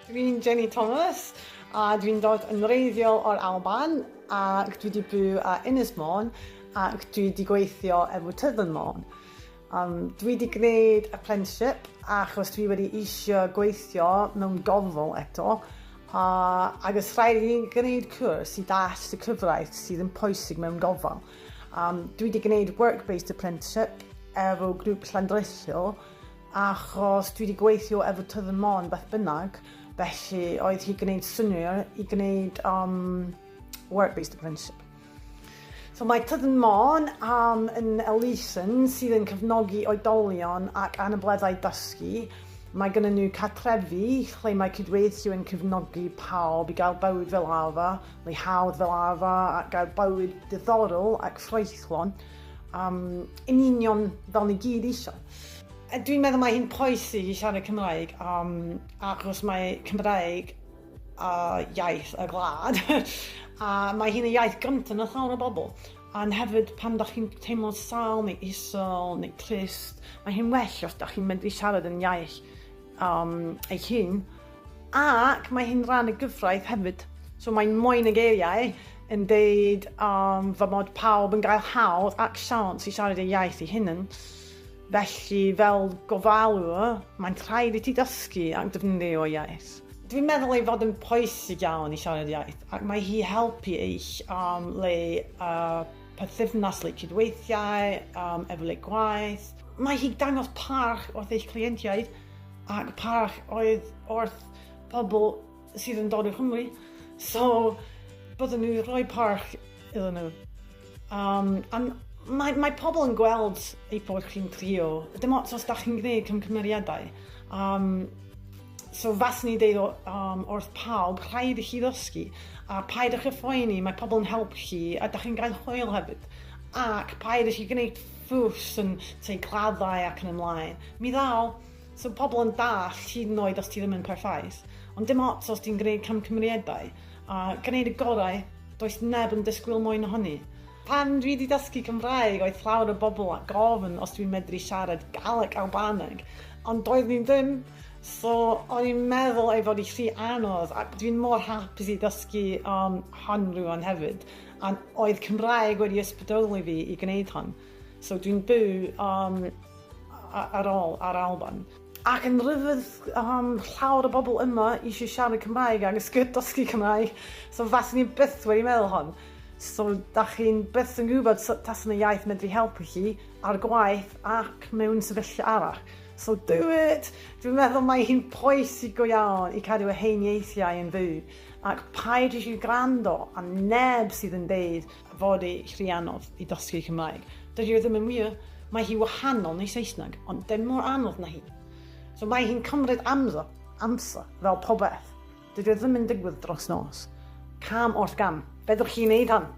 Dwi'n Jenny Thomas a dwi'n dod yn wreiddiol o'r Alban ac dwi 'di byw a Ynys Môn ac dwi 'di gweithio efo Tyddyn Môn. Yym dwi 'di gneud apprenticeship achos dwi wedi eisio gweithio mewn gornel eto a ag os rhaid i fi gneud cwrs i dallt y cyfraith sydd yn pwysig mewn gofal. Um, dwi wedi gwneud work-based apprenticeship efo grŵp llandresio achos dwi wedi gweithio efo Tydd y Mon beth bynnag, felly oedd hi gwneud syniau i gwneud um, work-based apprenticeship. So mae Tyddyn Mon am yn elusen sydd yn cefnogi oedolion ac anableddau dysgu. Mae gen nhw catrefi lle mae cydweithio yn cefnogi pawb i gael bywyd fel arfer, Mae hawdd fel arfer gael bywyd diddorol ac ffraethlon, um, yn union fel ni gyd eisiau. A dwi'n meddwl mae hi'n pwysig i siarad Cymraeg um, achos mae Cymraeg a iaith y gwlad a mae hi'n y iaith gyntaf na llawer o bobl. Ond hefyd pan da chi'n teimlo sal neu isol neu trist, mae hi'n well os da chi'n medru siarad yn iaith um, eich hun. Ac mae hi'n rhan y gyfraith hefyd. So mae'n moyn y geiriau yn deud um, fy mod pawb yn gael hawdd ac siawns i siarad ei iaith ei hunan. Felly, fel gofalwr, mae'n rhaid i ti dysgu ac defnyddio iaith. Dwi'n meddwl ei fod yn pwysig iawn i siarad iaith, ac mae hi helpu eich um, le uh, perthynas, le cydweithiau, um, efo le gwaith. Mae hi dangos parch wrth eich cleientiaid ac parch oedd wrth bobl sydd yn dod o Cymru, so bydden nhw rhoi parch iddyn nhw. Um, um, mae, mae pobl yn gweld ei bod chi'n trio, dim ots os da chi'n gwneud cymgymeriadau. Um, so fas ni deud um, wrth pawb, rhaid i chi ddysgu, a paid ych y phoeni, mae pobl yn help chi, a da chi'n gael hwyl hefyd. Ac paid i chi gwneud ffrws yn tŷ claddau ac yn y mlaen. Mi ddaw. So pobl yn dallt hyd yn oed os ti ddim yn perffaith. Ond dim ots os ti'n gwneud camgymeriadau a gwneud y gorau, does neb yn disgwyl mwy na hynny. Pan dwi 'di dysgu Cymraeg oedd llawer o bobl a gofyn os dwi'n medru siarad Galeg Albaneg ond doeddwn i ddim so o'n i'n meddwl ei fod hi rhy anodd ac dwi'n mor hapus i ddysgu um, hon rwan hefyd. Ond oedd Cymraeg wedi ysbrydoli fi i gwneud hon. So dwi'n byw um, ar ôl ar Alban. Ac yn rhyfedd um, llawer o bobl yma eisiau siarad Cymraeg ac ysgyd dysgu Cymraeg. So fas ni byth wedi meddwl hon. So da chi'n byth yn gwybod sut tas yna iaith medru helpu chi ar gwaith ac mewn sefyllfa arall. So do it! Dwi'n meddwl mae hi'n pwysig go iawn i cadw y hen ieithiau yn fyw. Ac paid i chi gwrando ar neb sydd yn deud fod ei rhy anodd i dysgu Cymraeg. Dydi o ddim yn wir. Mae hi wahanol neu Saesneg, ond dim mor anodd na hi. So mae hi'n cymryd amser, amser, fel pobeth. Dydi o ddim yn digwydd dros nos. Cam wrth gam. Fedrwch chi wneud hwn.